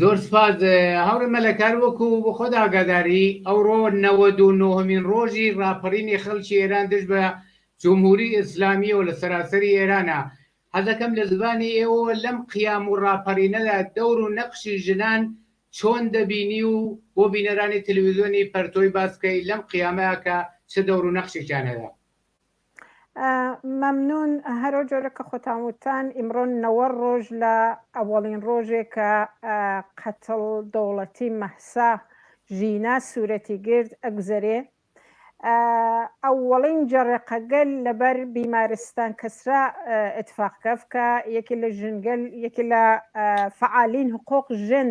زۆر سوپاس هاوڕێ مەلا کار وەکو بۆ خۆت ئاگاداری ئەوڕۆ نەوەد و نۆهەمین ڕۆژی ڕاپەڕینی خەڵکی ئێران دژ بە جمهوری ئیسلامیەوە لە سەراسەری ئێرانە حەزەکەم لە زبانی ئێوە لەم قیام و ڕاپەڕینەدا دەور و نەقشی ژنان چۆن دەبینی و بۆ بینەرانی تلویزیۆنی پەرتۆی باسکەی لەم قیامەیە کە چ دەور و نەقشێکیان هەیە مەمنون هەرو جۆرە کە خۆتان وتان ئیمڕۆ نەوە ڕۆژ لە ئەوەڵین ڕۆژێک کە قەتڵ دەوڵەتی مەحسا ژینا سوورەتی گرت ئەگوزەرێ ئەوەڵین جەڕێقەگەل لەبەر بیمارستان کەسرا اتفاق کەف کە یەکی لە ژنگەل یەکی لە فعالین حقوق ژن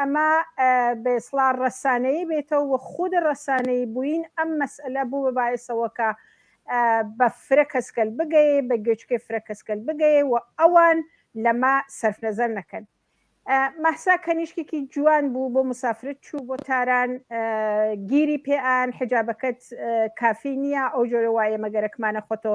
ئەمە بە ئیسڵاح ڕەسانەیی بێتەوە و خود ڕەسانەیی بووین ئەم مەسئەلە بوو بە بایەسەوە کە بە فرە کەس کەل بگەێ، بە گوێچکەی فرە کەس کەل بگەێ و ئەوان لەمە سەرف نەزەر نەکەن. مەهسا کەنیشکێکی جوان بوو بۆ مسافرت چوو بۆ تاران گیری پێ ئان حجابەکەت کافی نییە ئەو جۆرە وایە مەگەرەکمانە خۆتۆ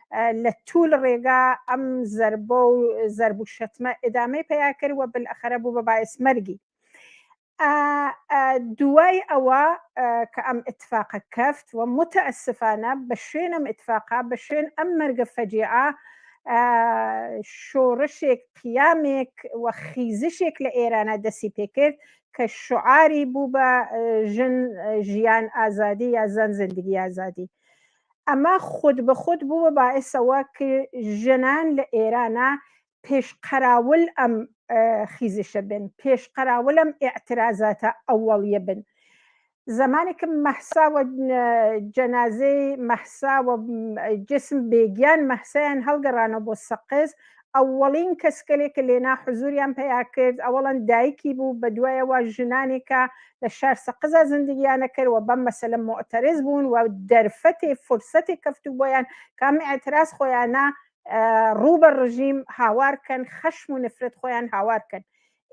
لە توول ڕێگا ئەم زەربە و زەرب و شەتمە ئدامەی پیا کرد وە بلەخەرە بوو بە باعس مەرگی دوای ئەوە کە ئەم اتفاقە کەفت و متەسفانە بە شوێنم اتفاقا بە شوێن ئەم مەرگە فەجیعە شۆڕشێک قیامێک و خیزشێک لە ئێرانە دەسی پێکرد کە شعاری بوو بە ژن ژیان ئازادی یا زەن زندگی ئازادی ئەمە خود بە خود بوو بە باعس ئەوە ک ژنان لە ئێرانا پێش قەراول ئەم خیزشە بن، پێش قەراول ئەم ئێعترازاتە ئەوەڵیە بن. زەمانێ ک مەهسا و جەنازەی مەهسا و جسم بێگیان مەهسایان هەڵگەڕانەوە بۆ سەقز، ئەوەڵین کەسکەلێ کە لێنا حزوریان پەیا کرد ئەوەڵەن دایکی بوو بە دوایەوە ژنانێ کە لە شار سەقزا زندگیانە کرد وە بەم مەسەلە موعتەرز بوون وە دەرفەتێ فرسەتێ کەفتوو بۆیان کە ئەم ئعتراز خۆیانە ڕوو بە ڕژیم هاوار کەن خەشم و نفرەت خۆیان هاوار کەن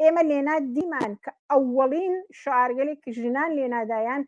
ئێمە لێنا دیمان کە ئەوەڵین شعارگەلێ کە ژنان لێنادایان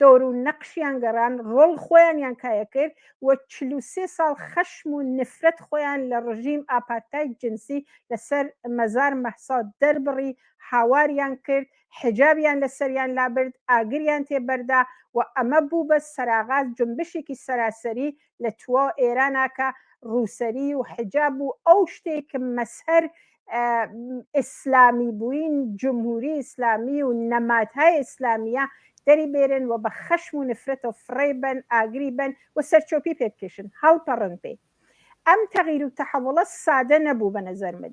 دەور و نەقشیان گەڕان ڕۆڵ خۆیانیان کایەکرد و چل و سێ ساڵ خەشم و نفرەت خۆیان لە ڕژیم ئاپارتای جنسی لەسەر مەزار مەهسا دەربڕی هاواریان کرد حیجابیان لەسەریان لابرد ئاگریان تێبەردا و ئەمە بوو بە سەراغا جنبشێکی سەراسەری لە تواو ئێرانا کە ڕووسەری و حجاب و ئەو شتێک کە مەسهەر ئیسلامی بووین جمهوری ئیسلامی و نەماتهای ئیسلامیە دەری بێرن و بە خەشم و نفرەت و فڕێ بن ئاگری بن و سەرچۆپی پێ بکێشن هەڵپەڕن پێی ئەم تەغیر و تەحەوڵە سادە نەبوو بە نەزەر من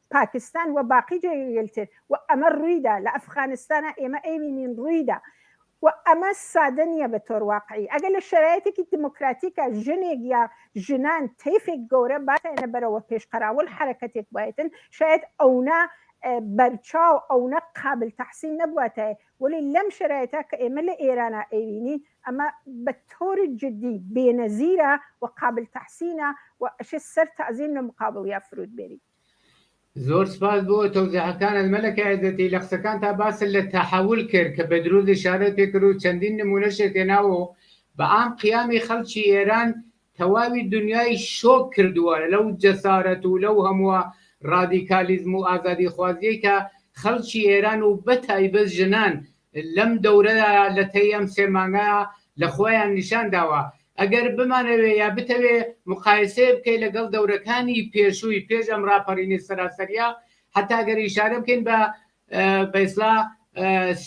پاکستان و باقی جێگەگەل تر و ئەمە ڕویدا لە ئەفخانستانا ئێمە ئەیبینین ڕویدا و ئەمە سادە نیە بە تۆر واقعی ئەگەر لە شەرایتێکی دیمۆکراتیکا ژنێک یا ژنان تەیفێک گەورە باتەێنە بەرەوە پێش قەراوڵ حەرەکەتێک بایتن شایەد ئەونە بەرچاو ئەونە قابل تەحسین نەبواتایە وەلی لەم شەرایتا کە ئێمە لە ئێرانا ئەیبینین ئەمە بە تۆر جدی بێنەزیرە و قابل تەحسینە و ئەشێ سەر تەعزیم لە مقابڵیا فرود بێری زۆر سپاس بۆ تەوزیحەکانت مەلەکە عێزەتی لە قسەکانتا باست لە تەحەول کرد کە بە دروز ئیشارەت پێ کرد و چەندین نموونەشت هێناوە و بە عام قیامی خەڵکی ئێران تەواوی دنیای شۆک کردووە لەو جەسارەت و لەو هەمووە ڕادیکالیزم و ئازادیخوازییەی کە خەڵکی ئێران و بەتایبەت ژنان لەم دەورەدا لە تەی ئەم سێ مانگە لە خۆیان نیشان داوە. ئەگەر بمانەوێ یا بتەوێ مقایسەی بکەی لەگەڵ دەورەکانی پێشووی پێش ئەم ڕاپەڕینی سەراسەریە حەتا گەر ئیشارە بکەین بە بە ئیسڵا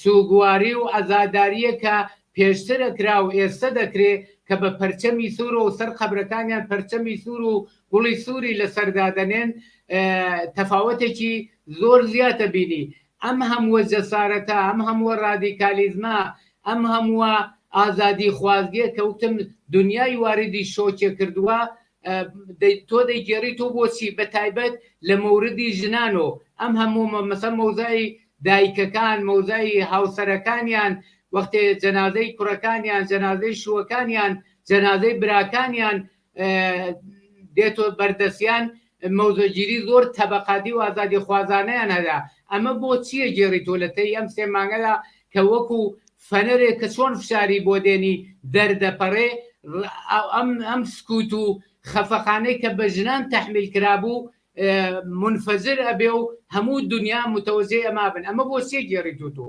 سوگواری و عەزاداریە کە پێشتر ئەکرا و ئێستە دەکرێ کە بە پەرچەمی سوور و سەر قەبرەکانیان پەرچەمی سوور و گوڵی سووری لەسەر دادەنێن تەفاوەتێکی زۆر زیاتە بینی ئەم هەمووە جەسارەتە، ئەم هەمووە ڕادیکالیزمە، ئەم هەمووە ئازادیخوازیە کە وتم دنیای واردی شۆکێ کردووە، تۆ دەیگێڕیت و بۆچی؟ بە تایبەت لە مۆردی ژنان و ئەم هەموو مەسەن مەوزای دایکەکان، مەوزای هاوسەرەکانیان، وەختێ جەنازەی کوڕەکانیان، جەنازەی شووەکانیان، جەنازەی براکانیان، دێتۆ بەردەسیان مەوزەگیری زۆر تەبەقاتی و ئازادی خوازانەیان هەدا ئەمە بۆ چیە گێڕی تۆ لە تەی ئەم سێ مانگەدا کە وەکو فەنەرێ کە چۆن فشاری بۆ دێنی دەردەپەڕێ ئەم ئەم سکووت و خەفەخانەی کە بە ژنان تەحمیل کرابوو منفەجر ئەبێ و هەموو دنیا متەوەجێ ئەما بن ئەمە بۆ چیە گێڕی تۆ تۆ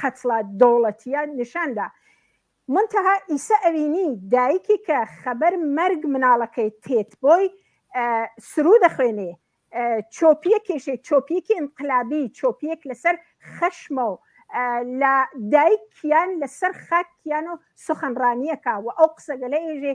قەتڵە دەوڵەتیە نیشان دا منتەها ئیسە ئەوینی دایکی کە خەبەر مەرگ مناڵەکەی تێت بۆی سرو دەخوێنێ چۆپیە کێشێ چۆپیەکی ئینقلابی چۆپیەک لەسەر خەشمە و لە دایکیان لەسەر خاکیان و سخنڕانیەکە و ئەو قسەگەلە ئێژێ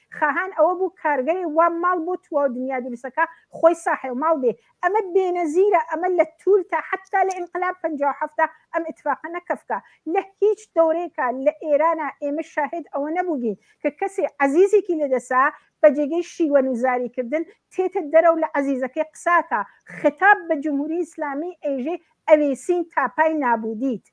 خاهان ئەوە بوو کارگەێ وا ماڵ بۆ تواو دنیا دروستەکا خۆی ساحێو ماڵ بێ ئەمە بێنەزیرە ئەمە لە توول تا حەتتا لە ئینقلاب پەنجا و حەفتا ئەم ئتفاقە نەکەفکا لە هیچ دەورێکا لە ئێرانا ئێمە شاهێد ئەوە نەبووین کە کەسێ عەزیزێکی لە دەسا بە جێگەی شیوەن و زاری کردن تێتە دەرەو لە عەزیزەکەی قساکا ختاب بە جمهوری ئیسلامی ئێژێ ئەوێسین تاپای نابوودیت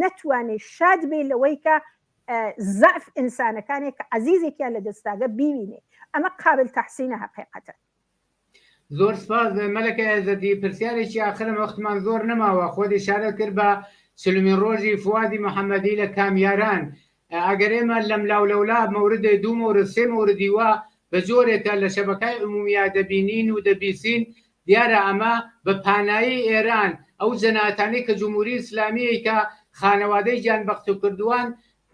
نەتوانێ شاد بێ لەوەی کە زەعف ئینسانەکانێک کە عزیزێکیان لە دەستاگە بیوینێ ئەمە قابل تحسینە هەقیقەتە زۆر سپاس مەلەکە ئێزەدی پرسیارێکی ئاخرم وەختمان زۆر نەماوە خۆدی شارە کرد بە چلمین ڕۆژی فوادی محەممەدی لە کامیاران ئەگەر ئێمە لەملاو لەولا مەوردێ دوو مەورد سێ مەوردی وا بە جۆرێ کە لە شەبەکای عموومییا دەبینین و دەبیسین دیارە ئەمە بە پانایی ئێران ئەو جەناتانی کە جمووری ئیسلامیی کە خانەوادەی گیان بەختوکردوان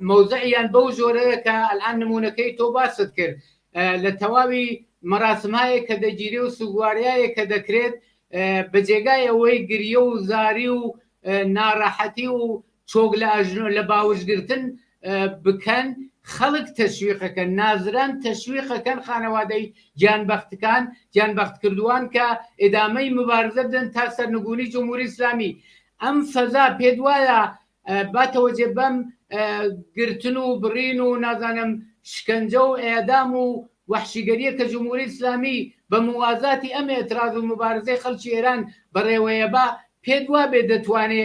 مەوزعیان بەو جۆرەیە کە ئەلئان نموونەکەی تۆ باست کرد لە تەواوی مەراسمایەک کە دەگیری و سوگواریایەک کە دەکرێت بە جێگای ئەوەی گریە و زاری و ناڕەحەتی و چۆک لە ئەژنۆ لە باوج گرتن بکەن خەڵک تەشویقەکەن نازران تەشویقەکەن خانەوادەی گیانبەختکان گیانبەخت کردووان کە ئێدامەی مبارزە بدەن تا سەرنگونی جمهوری ئیسلامی ئەم فەزا پێ وایە باتەوە جێ بەم گرتن و بڕین و نازانم شکنجە و ئێدام و وحشیگەریە کە جمهوری ئیسلامی بە موازاتی ئەم ئێتراز و مبارزەی خەڵکی ئێران بەڕێوەیە با پێت وا بێ دەتوانێ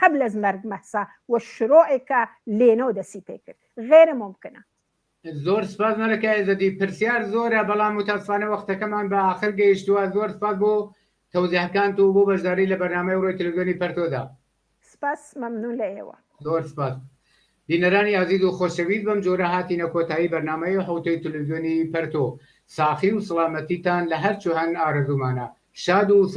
قبل از مرگ مهسا و شروع کە لێنۆ دەسی پێ کرد غێرە مومکنە. زۆر سپاس مەلەکە ئێزەدی پرسیار زۆرە بەڵام متاسفانە وەختەکەمان بە ئاخر گەیشتووە زۆر سپاس بۆ تەوزیهەکانت و بۆ بەشداری لە بەرنامەی ڕۆی تلوزیۆنی پەرتۆدا. سپاس مەمنون لە ئێوە. زۆر سپاس بینەرانی ئازیز و خۆشەویست بەم جۆرە هاتینە کۆتایی بەرنامەی حوتەی تلوزیۆنی پەرتۆ ساخی و سڵامەتیتان لە هەرچ و هەن ئارەزوومانە شاد و